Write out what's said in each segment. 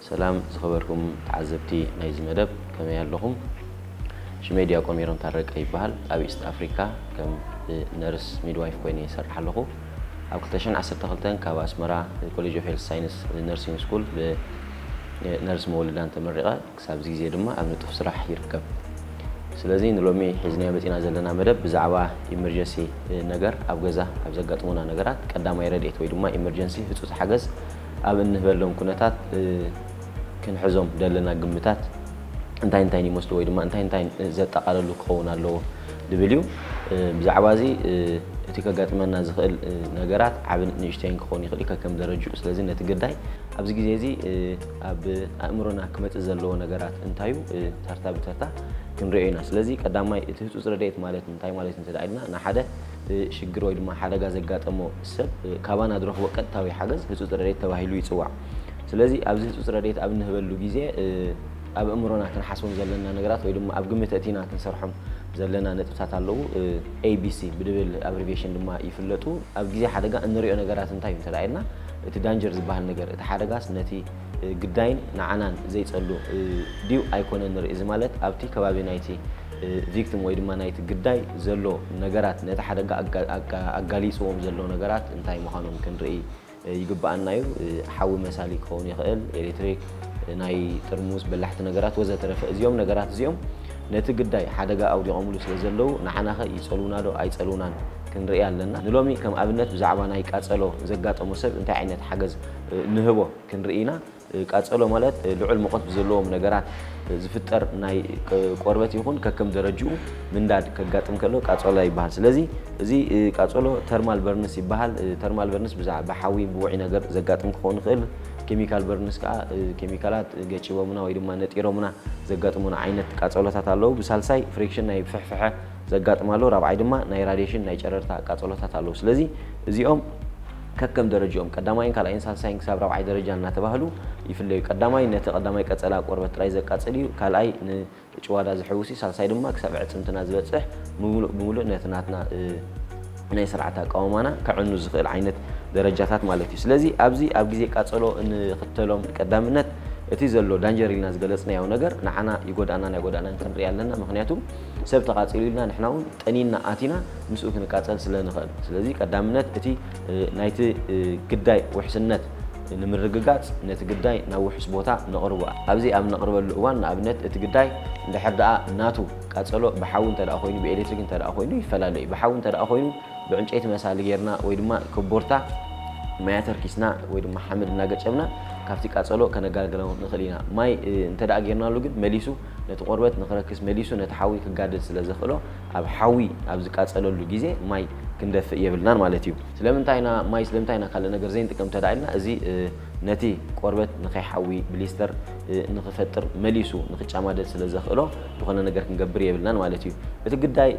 ሰላም ዝኸበርኩም ተዓዘብቲ ናይዚ መደብ ከመይ ኣለኹም ሽመይ ድያቆን ሜሮን ታረቀ ይበሃል ኣብ ኢስት ኣፍሪካ ከም ነርስ ሚድዋይፍ ኮይነ ይሰርሕ ኣለኹ ኣብ ክልተ ሽሕን ዓሰርተ ክልተን ካብ ኣስመራ ኮሌጅ ኦፍ ሄልስ ሳይንስ ነርሲንግ ስኩል ብነርስ መወልዳን ተመሪቐ ክሳብ እዚ ግዜ ድማ ኣብ ንጡፍ ስራሕ ይርከብ። ስለዚ ንሎሚ ሒዝናዮ መጺና ዘለና መደብ ብዛዕባ ኢመርጀሲ ነገር ኣብ ገዛ ኣብ ዘጋጥሙና ነገራት ቀዳማይ ረድኤት ወይ ድማ ኢመርጀንሲ ህጹጽ ሓገዝ ኣብ እንህበሎም ኩነታት ክንሕዞም ዘለና ግምታት እንታይ እንታይን ይመስሉ ወይ ድማ እንታይ እንታይን ዘጠቓለሉ ክኸውን ኣለዎ ድብል እዩ። ብዛዕባ እዚ እቲ ከጋጥመና ዝኽእል ነገራት ዓብን ንእሽተይን ክኸውን ይኽእል እዩ ከከም ደረጅኡ። ስለዚ ነቲ ግዳይ ኣብዚ ግዜ እዚ ኣብ ኣእምሮና ክመጽእ ዘለዎ ነገራት እንታይ እዩ? ተርታ ብተርታ ክንሪኦ ኢና። ስለዚ ቀዳማይ እቲ ህጹጽ ረድኤት ማለት እንታይ ማለት እንተ ኢልና ንሓደ ሽግር ወይ ድማ ሓደጋ ዘጋጠሞ ሰብ ካባና ዝረኽቦ ቀጥታዊ ሓገዝ ህጹጽ ረድኤት ተባሂሉ ይጽዋዕ። ስለዚ ኣብዚ ህጹጽ ረድኤት ኣብ እንህበሉ ግዜ ኣብ ኣእምሮና ክንሓስቦም ዘለና ነገራት ወይ ድማ ኣብ ግምት ኣእቲና ክንሰርሖም ዘለና ነጥብታት ኣለዉ። ኤቢሲ ብድብል ኣብሪቬሽን ድማ ይፍለጡ። ኣብ ግዜ ሓደጋ እንሪኦ ነገራት እንታይ እዩ እንተ ኢልና እቲ ዳንጀር ዝበሃል ነገር እቲ ሓደጋስ ነቲ ግዳይን ንዓናን ዘይጸሉ ድዩ ኣይኮነን ንርኢ። እዚ ማለት ኣብቲ ከባቢ ናይቲ ቪክቲም ወይ ድማ ናይቲ ግዳይ ዘሎ ነገራት ነቲ ሓደጋ ኣጋሊጽዎም ዘሎ ነገራት እንታይ ምዃኖም ክንርኢ ይግበኣና እዩ። ሓዊ መሳሊ ክኸውን ይኽእል፣ ኤሌክትሪክ፣ ናይ ጥርሙዝ በላሕቲ ነገራት ወዘተረፈ። እዚኦም ነገራት እዚኦም ነቲ ግዳይ ሓደጋ ኣውዲቖምሉ ስለዘለዉ ንዓናኸ ይጸልዉናዶ ኣይጸልዉናን? ክንርኢ ኣለና። ንሎሚ ከም ኣብነት ብዛዕባ ናይ ቃጸሎ ዘጋጠሞ ሰብ እንታይ ዓይነት ሓገዝ ንህቦ ክንርኢ ኢና። ቃጸሎ ማለት ልዑል ሙቐት ብዘለዎም ነገራት ዝፍጠር ናይ ቆርበት ይኹን ከከም ደረጅኡ ምንዳድ ከጋጥም ከሎ ቃጸሎ ይበሃል። ስለዚ እዚ ቃጸሎ ተርማል በርንስ ይበሃል። ተርማል በርንስ ብዛዕ ብሓዊ ብውዑይ ነገር ዘጋጥም ክኸውን ይኽእል። ኬሚካል በርንስ ከኣ ኬሚካላት ገጪቦምና ወይ ድማ ነጢሮምና ዘጋጥሙና ዓይነት ቃጸሎታት ኣለዉ። ብሳልሳይ ፍሪክሽን ናይ ፍሕፍሐ ዘጋጥም ኣሎ፣ ራብዓይ ድማ ናይ ራድየሽን ናይ ጨረርታ ቃፀሎታት ኣለዉ። ስለዚ እዚኦም ከከም ደረጅኦም ቀዳማይን ካልኣይን ሳልሳይን ክሳብ ራብዓይ ደረጃ እናተባህሉ ይፍለዩ። ቀዳማይ ነቲ ቀዳማይ ቀፀላ ቆርበት ጥራይ ዘቃፅል እዩ፣ ካልኣይ ንጭዋዳ ዝሕውስ እዩ፣ ሳልሳይ ድማ ክሳብ ኣዕፅምትና ዝበፅሕ ብምሉእ ብምሉእ ነቲ ናትና ናይ ስርዓተ ኣቃውማና ከዕኑ ዝኽእል ዓይነት ደረጃታት ማለት እዩ። ስለዚ ኣብዚ ኣብ ግዜ ቃፀሎ እንኽተሎም ቀዳምነት እቲ ዘሎ ዳንጀር ኢልና ዝገለፅናዮ ነገር ንዓና ይጎድኣናን ኣይጎድኣናን ክንርኢ ኣለና፣ ምኽንያቱ፣ ሰብ ተቓጺሉ ኢልና ንሕና እውን ጠኒንና ኣቲና ምስኡ ክንቃጸል ስለ ንኽእል። ስለዚ ቀዳምነት እቲ ናይቲ ግዳይ ውሕስነት ንምርግጋጽ ነቲ ግዳይ ናብ ውሑስ ቦታ ነቕርቦ። ኣብዚ ኣብ እነቕርበሉ እዋን ንኣብነት እቲ ግዳይ እንድሕር ደኣ ናቱ ቃጸሎ ብሓዊ እንተደኣ ኮይኑ ብኤሌክትሪክ እንተደኣ ኮይኑ ይፈላለ እዩ። ብሓዊ እንተደኣ ኮይኑ ብዕንጨይቲ መሳሊ ጌርና ወይ ድማ ኮቦርታ ማይ ኣተርኪስና ወይ ድማ ሓመድ እናገጨብና ካብቲ ቃጸሎ ከነጋልግሎ ንኽእል ኢና። ማይ እንተደኣ ጌርናሉ ግን መሊሱ ነቲ ቆርበት ንክረክስ መሊሱ ነቲ ሓዊ ክጋደድ ስለ ዘኽእሎ ኣብ ሓዊ ኣብ ዝቃጸለሉ ግዜ ማይ ክንደፍእ የብልናን ማለት እዩ። ስለምንታይ ኢና ማይ ስለምንታይ ኢና ካልእ ነገር ዘይንጥቀም እንተ ኢልና እዚ ነቲ ቆርበት ንከይሓዊ ብሊስተር ንክፈጥር መሊሱ ንክጫማደድ ስለ ዘኽእሎ ዝኾነ ነገር ክንገብር የብልናን ማለት እዩ። እቲ ግዳይ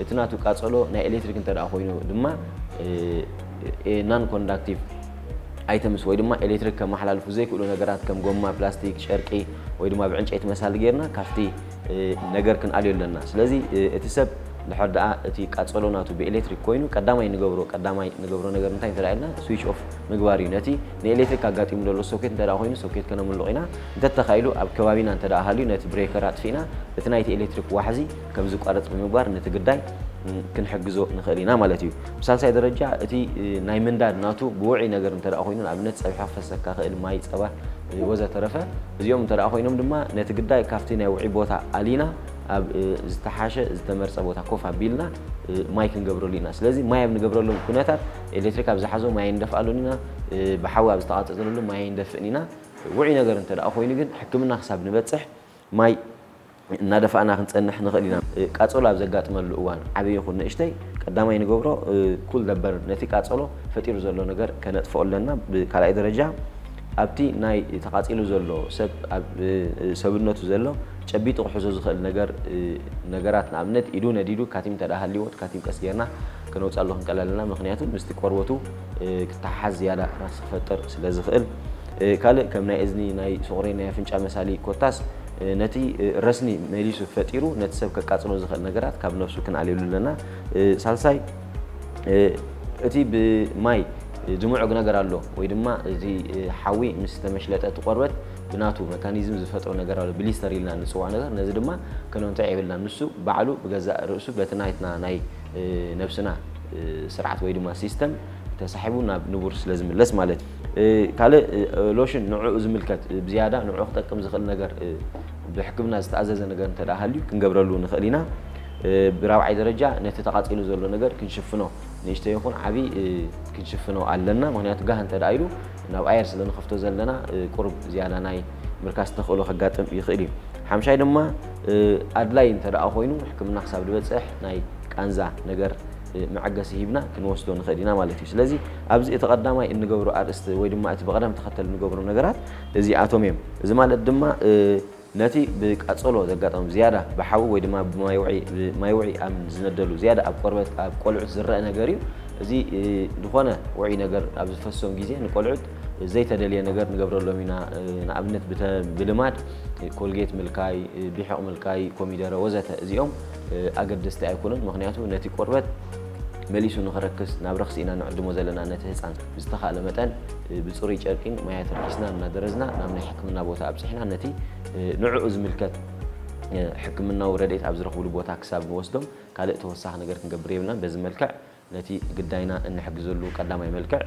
እቲ ናቱ ቃጸሎ ናይ ኤሌትሪክ እንተ ኮይኑ ድማ ናን ኮንዳክቲቭ ኣይተምስ ወይ ድማ ኤሌክትሪክ ከመሓላልፉ ዘይክእሉ ነገራት ከም ጎማ፣ ፕላስቲክ፣ ጨርቂ ወይ ድማ ብዕንጨይቲ መሳሊ ጌርና ካብቲ ነገር ክንኣልዮ ኣለና። ስለዚ እቲ ሰብ ድሕር ደኣ እቲ ቃጸሎ ናቱ ብኤሌክትሪክ ኮይኑ ቀዳማይ ንገብሮ ቀዳማይ ንገብሮ ነገር እንታይ እንተ ደኣ ኢልና ስዊች ኦፍ ምግባር እዩ። ነቲ ንኤሌክትሪክ ኣጋጢሙ ዘሎ ሶኬት እንተ ደኣ ኮይኑ ሶኬት ከነምልቕ ኢና። እንተ ተኻኢሉ ኣብ ከባቢና እንተ ደኣ ሃልዩ ነቲ ብሬከር ኣጥፊእና እቲ ናይቲ ኤሌክትሪክ ዋሕዚ ከም ዝቋረፅ ብምግባር ነቲ ግዳይ ክንሕግዞ ንኽእል ኢና ማለት እዩ። ብሳልሳይ ደረጃ እቲ ናይ ምንዳድ ናቱ ብውዑይ ነገር እንተ ኮይኑ ንኣብነት ፀብሒ ክፈሰካ ክእል ማይ ፀባ ወዘተረፈ እዚኦም እንተ ኮይኖም ድማ ነቲ ግዳይ ካብቲ ናይ ውዑይ ቦታ ኣሊና ኣብ ዝተሓሸ ዝተመርፀ ቦታ ኮፍ ኣቢልና ማይ ክንገብረሉ ኢና። ስለዚ ማይ ኣብ ንገብረሉ ኩነታት ኤሌክትሪክ ኣብ ዝሓዞ ማይ ኣይንደፍኣሉን ኢና፣ ብሓዊ ኣብ ዝተቓፀፀለሉ ማይ ኣይንደፍእን ኢና። ውዑይ ነገር እንተ ኮይኑ ግን ሕክምና ክሳብ ንበፅሕ ማይ እናደፋእና ክንጸንሕ ንኽእል ኢና። ቃጸሎ ኣብ ዘጋጥመሉ እዋን፣ ዓቢ ይኹን ንእሽተይ፣ ቀዳማይ ንገብሮ ኩል ዘ በርን፣ ነቲ ቃጸሎ ፈጢሩ ዘሎ ነገር ከነጥፍኦ ኣለና። ብካልኣይ ደረጃ፣ ኣብቲ ናይ ተቓጺሉ ዘሎ ሰብ ኣብ ሰብነቱ ዘሎ ጨቢጡ ክሕዞ ዝኽእል ነገር ነገራት ንኣብነት ኢዱ ነዲዱ ካቲም እንተድኣ ሃልይዎ እቲ ካቲም ቀስ ጌርና ከነውጽኣሉ ክንቀል ኣለና ምኽንያቱ ምስቲ ቆርበቱ ክተሓሓዝ ዝያዳ ረኽሲ ክፈጥር ስለ ዝኽእል ካልእ ከም ናይ እዝኒ ናይ ሶቑሬን ናይ ኣፍንጫ መሳሊ ኮታስ ነቲ ረስኒ መሊሱ ፈጢሩ ነቲ ሰብ ከቃጽሎ ዝኽእል ነገራት ካብ ነፍሱ ክንኣልየሉ ኣለና። ሳልሳይ እቲ ብማይ ዝምዑግ ነገር ኣሎ ወይ ድማ እዚ ሓዊ ምስ ተመሽለጠ እቲ ቆርበት ብናቱ መካኒዝም ዝፈጥሮ ነገር ኣሎ ብሊስተር ኢልና ንጽውዖ ነገር ነዚ ድማ ከነንትዕ የብልናን ንሱ ባዕሉ ብገዛእ ርእሱ በቲ ናትና ናይ ነብስና ስርዓት ወይ ድማ ሲስተም ተሳሒቡ ናብ ንቡር ስለ ዝምለስ ማለት እዩ። ካልእ ሎሽን ንዕኡ ዝምልከት ብዝያዳ ንዕኡ ክጠቅም ዝኽእል ነገር ብሕክምና ዝተኣዘዘ ነገር እንተ ሃልዩ ክንገብረሉ ንኽእል ኢና። ብራብዓይ ደረጃ ነቲ ተቓጺሉ ዘሎ ነገር ክንሽፍኖ ንእሽተይ ይኹን ዓብዪ ክንሽፍኖ ኣለና። ምክንያቱ ጋህ እንተ ኢሉ ናብ ኣየር ስለ ንኸፍቶ ዘለና ቁሩብ ዝያዳ ናይ ምርካስ ተኽእሎ ከጋጥም ይኽእል እዩ። ሓምሻይ ድማ ኣድላይ እንተ ኮይኑ ሕክምና ክሳብ ዝበጽሕ ናይ ቃንዛ ነገር መዐገሲ ሂብና ክንወስዶ ንኽእል ኢና ማለት እዩ። ስለዚ ኣብዚ እቲ ቀዳማይ እንገብሮ ኣርእስቲ ወይ ድማ እቲ ብቐዳም ተኸተል እንገብሮ ነገራት እዚኣቶም እዮም። እዚ ማለት ድማ ነቲ ብቃጸሎ ዘጋጠም ዝያዳ ብሓዊ ወይ ድማ ብማይ ውዒ ማይ ውዒ ኣብ ዝነደሉ ዝያዳ ኣብ ቆርበት ኣብ ቆልዑት ዝረኣ ነገር እዩ። እዚ ዝኾነ ውዑይ ነገር ኣብ ዝፈሶም ግዜ ንቆልዑት ዘይተደልየ ነገር ንገብረሎም ኢና። ንኣብነት ብተ ብልማድ ኮልጌት ምልካይ፣ ቢሕቕ ምልካይ፣ ኮሚደረ ወዘተ እዚኦም ኣገደስቲ ኣይኮኑን ምኽንያቱ ነቲ ቆርበት መሊሱ ንኽረክስ ናብ ረኽሲ ኢና ንዕድሞ ዘለና ነቲ ህጻን ብዝተኻእለ መጠን ብጽሩይ ጨርቂን ማይ ኣተርኪስና እናደረዝና ናብ ናይ ሕክምና ቦታ ኣብጽሕና ነቲ ንዕኡ ዝምልከት ሕክምናዊ ረድኤት ኣብ ዝረኽብሉ ቦታ ክሳብ ንወስዶም ካልእ ተወሳኺ ነገር ክንገብር የብልናን በዚ መልክዕ ነቲ ግዳይና እንሕግዘሉ ቀዳማይ መልክዕ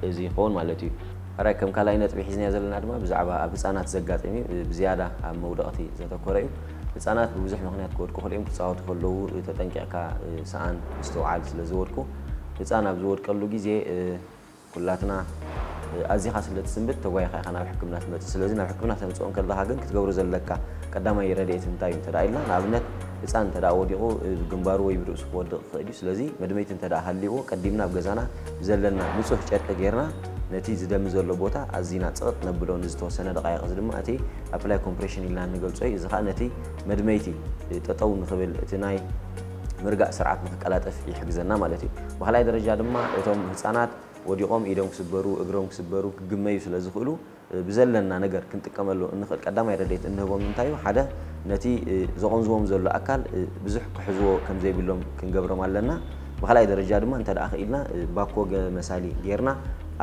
እዚ ይኸውን ማለት እዩ። ሐራይ ከም ካልኣይ ነጥቢ ሒዝናዮ ዘለና ድማ ብዛዕባ ኣብ ህፃናት ዘጋጥም እዩ። ብዝያዳ ኣብ መውደቕቲ ዘተኮረ እዩ። ህፃናት ብብዙሕ ምኽንያት ክወድቁ ይኽእሉ እዮም። ክፃወቱ ከለዉ ተጠንቂቕካ ስኣን፣ ምስትውዓል ስለዝወድቁ ህፃን ኣብ ዝወድቀሉ ግዜ፣ ኩላትና ኣዚኻ ስለ ትስንብድ ተጓይኻ ኢኻ ናብ ሕክምና ትመጽእ። ስለዚ ናብ ሕክምና ተምጽኦ እንከለኻ ግን ክትገብሮ ዘለካ ቀዳማይ ረድኤት እንታይ እዩ እንተድኣ ኢልና፣ ንኣብነት ህጻን እንተድኣ ወዲቑ ብግንባሩ ወይ ብርእሱ ክወድቕ ይኽእል እዩ። ስለዚ መድመይቲ እንተድኣ ሃልይዎ ቀዲምና ኣብ ገዛና ብዘለና ንጹህ ጨርቂ ጌርና ነቲ ዝደሚ ዘሎ ቦታ ኣዚና ጽቕጥ ነብሎ። ንዝተወሰነ ደቓይቕ እዚ ድማ እቲ ኣፕላይ ኮምፕሬሽን ኢልና እንገልጾ እዩ። እዚ ከኣ ነቲ መድመይቲ ጠጠው ንኽብል እቲ ናይ ምርጋእ ስርዓት ንክቀላጠፍ ይሕግዘና ማለት እዩ። ብካልኣይ ደረጃ ድማ እቶም ህፃናት ወዲቆም ኢዶም ክስበሩ፣ እግሮም ክስበሩ፣ ክግመዩ ስለዝኽእሉ ብዘለና ነገር ክንጥቀመሉ እንኽእል ቀዳማይ ረድኤት እንህቦም እንታይ እዩ? ሓደ ነቲ ዘቆንዝዎም ዘሎ ኣካል ብዙሕ ክሕዝዎ ከምዘይብሎም ክንገብሮም ኣለና። ብካልኣይ ደረጃ ድማ እንተድኣ ክኢልና ባኮ መሳሊ ገይርና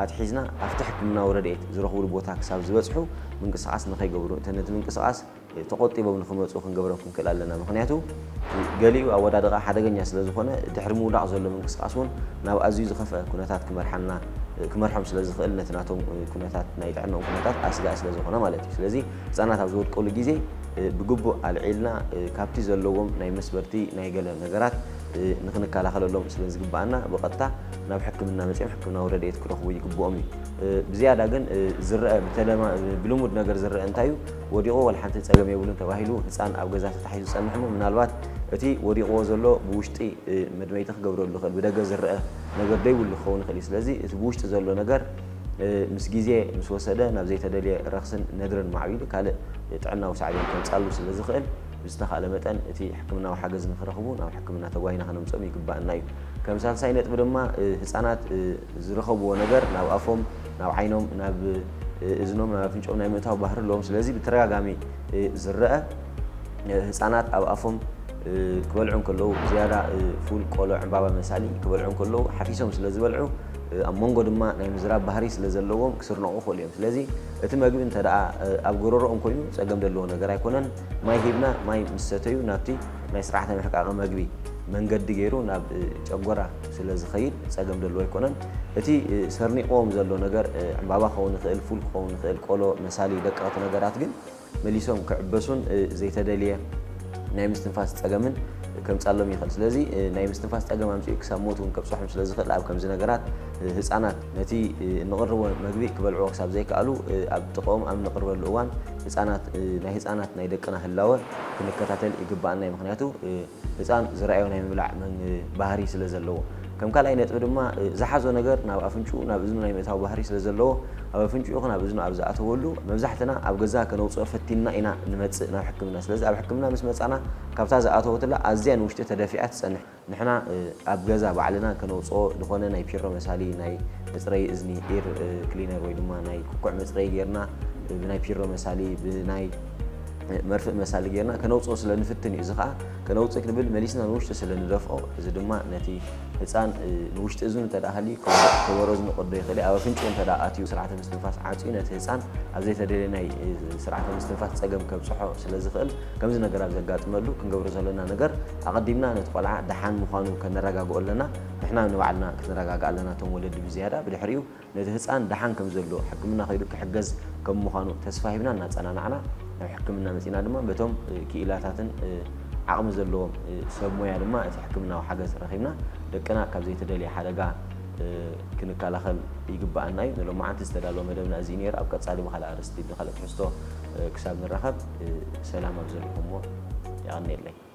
ኣትሒዝና ኣብቲ ሕክምናዊ ረድኤት ዝረኽብሉ ቦታ ክሳብ ዝበፅሑ ምንቅስቃስ ንከይገብሩ እቲ ነቲ ምንቅስቃስ ተቆጢቦም ንክመጹ ክንገብሮም ክንክእል ኣለና ምኽንያቱ ገሊኡ ኣወዳድቓ ሓደገኛ ስለ ዝኾነ ድሕሪ ምውዳቕ ዘሎ ምንቅስቓስ እውን ናብ ኣዝዩ ዝኸፍኣ ኩነታት ክመርሓና ክመርሖም ስለ ዝኽእል ነቲ ናቶም ኩነታት ናይ ጥዕንኦም ኩነታት ኣስጋኢ ስለ ዝኾነ ማለት እዩ ስለዚ ህጻናት ኣብ ዝወድቀሉ ግዜ ብግቡእ ኣልዒልና ካብቲ ዘለዎም ናይ መስበርቲ ናይ ገለ ነገራት ንክንከላኸለሎም ስለ ዝግብኣና ብቐጥታ ናብ ሕክምና መጺኦም ሕክምናዊ ረድኤት ክረኽቡ ይግብኦም እዩ ብዝያዳ ግን ዝረኣ ብተለማ ብልሙድ ነገር ዝረኣ እንታይ እዩ ወዲቑ ዋላ ሓንቲ ፀገም የብሉን ተባሂሉ ህፃን ኣብ ገዛ ተታሒዙ ዝፀንሕ እሞ ምናልባት እቲ ወዲቑዎ ዘሎ ብውሽጢ መድመይቲ ክገብረሉ ይኽእል ብደገ ዝረአ ነገር ደይብሉ ክኸውን ይኽእል እዩ ስለዚ እቲ ብውሽጢ ዘሎ ነገር ምስ ግዜ ምስ ወሰደ ናብ ዘይተደልየ ረኽስን ነድርን ማዕቢሉ ካልእ ጥዕናዊ ሳዕቤን ከምፃሉ ስለ ዝኽእል ብዝተኻእለ መጠን እቲ ሕክምናዊ ሓገዝ ንክረኽቡ ናብ ሕክምና ተጓይና ክነምፅኦም ይግባእና እዩ። ከም ሳልሳይ ነጥቢ ድማ ህፃናት ዝረኸብዎ ነገር ናብ ኣፎም ናብ ዓይኖም ናብ እዝኖም ናብ ኣፍንጭኦም ናይ ምእታው ባህሪ ኣለዎም። ስለዚ ብተደጋጋሚ ዝረኣ ህፃናት ኣብ ኣፎም ክበልዑ እንከለዉ ብዝያዳ ፉል፣ ቆሎ፣ ዕምባባ መሳሊ ክበልዑ እንከለዉ ሓፊሶም ስለ ዝበልዑ ኣብ መንጎ ድማ ናይ ምዝራብ ባህሪ ስለ ዘለዎም ክስርነቑ ይኽእሉ እዮም። ስለዚ እቲ መግቢ እንተ ደኣ ኣብ ጎረሮኦም ኮይኑ ፀገም ዘለዎ ነገር ኣይኮነን። ማይ ሂብና ማይ ምስ ሰተዩ ናብቲ ናይ ስርዓተ ምሕቃቐ መግቢ መንገዲ ገይሩ ናብ ጨጎራ ስለ ዝኸይድ ፀገም ዘለዎ ኣይኮነን። እቲ ሰርኒቕዎም ዘሎ ነገር ዕምባባ ክኸውን ይኽእል፣ ፉል ክኸውን ይኽእል፣ ቆሎ፣ መሳሊ ደቀቕቲ ነገራት ግን መሊሶም ክዕበሱን ዘይተደልየ ናይ ምስትንፋስ ጸገምን ከምጻሎም ይኽእል። ስለዚ ናይ ምስትንፋስ ጸገም ኣምጺኡ ክሳብ ሞት እውን ከብጽሖም ስለ ዝኽእል ኣብ ከምዚ ነገራት ህጻናት ነቲ እንቕርቦ መግቢ ክበልዕዎ ክሳብ ዘይከኣሉ ኣብ ጥቕኦም ኣብ እንቕርበሉ እዋን ህጻናት ናይ ህጻናት ናይ ደቅና ህላወ ክንከታተል ይግብኣና እዩ። ምኽንያቱ ህጻን ዝረኣዮ ናይ ምብላዕ ባህሪ ስለ ዘለዎ። ከም ካልኣይ ነጥቢ ድማ ዝሓዞ ነገር ናብ ኣፍንጭኡ ናብ እዝኑ ናይ ምእታው ባህሪ ስለ ዘለዎ ኣብ ኣፍንጭኡ ይኹን ኣብ እዝኑ ኣብ ዝኣተወሉ መብዛሕትና ኣብ ገዛ ከነውጽኦ ፈቲንና ኢና ንመጽእ ናብ ሕክምና ስለዚ ኣብ ሕክምና ምስ መጻና ካብታ ዝኣተወትላ ኣዝያ ንውሽጢ ተደፊኣ ትጸንሕ ንሕና ኣብ ገዛ ባዕልና ከነውጽኦ ዝኾነ ናይ ፒሮ መሳሊ ናይ መጽረዪ እዝኒ ኢር ክሊነር ወይ ድማ ናይ ኩኩዕ መጽረዪ ጌርና ብናይ ፒሮ መሳሊ ብናይ መርፍእ መሳሊ ጌርና ከነውፅኦ ስለ ንፍትን እዩ እዚ ከዓ ከነውፅእ ክንብል መሊስና ንውሽጢ ስለ ንደፍኦ እዚ ድማ ነቲ ህፃን ንውሽጢ እዝኑ እንተ ሃልዩ ከበሮ እዝኑ ቅዶ ይኽእል ኣብ ኣፍንጭኡ እንተ ኣትዩ ስርዓተ ምስትንፋስ ዓፅዩ ነቲ ህፃን ኣብ ዘይተደልየ ናይ ስርዓተ ምስትንፋስ ፀገም ከብፅሖ ስለ ዝኽእል ከምዚ ነገር ኣብ ዘጋጥመሉ ክንገብሮ ዘለና ነገር ኣቐዲምና ነቲ ቆልዓ ደሓን ምዃኑ ከነረጋግኦ ኣለና ንሕና ንባዕልና ክንረጋግእ ኣለና እቶም ወለዲ ብዝያዳ ብድሕሪኡ ነቲ ህጻን ደሓን ከም ዘሎ ሕክምና ከይዱ ክሕገዝ ከም ምዃኑ ተስፋ ሂብና እናጸናናዕና ናብ ሕክምና መጺእና ድማ በቶም ክኢላታትን ዓቕሚ ዘለዎም ሰብ ሞያ ድማ እቲ ሕክምናዊ ሓገዝ ረኺብና ደቅና ካብ ዘይተደልየ ሓደጋ ክንከላኸል ይግባኣና እዩ። ንሎማዓንቲ ዝተዳለወ መደብና እዚ እዩ ነይሩ። ኣብ ቀጻሊ ብካልእ ኣርእስቲ ብካልእ ትሕዝቶ ክሳብ ንራኸብ ሰላም ኣብ ዘለኹሞ የቐንየለይ።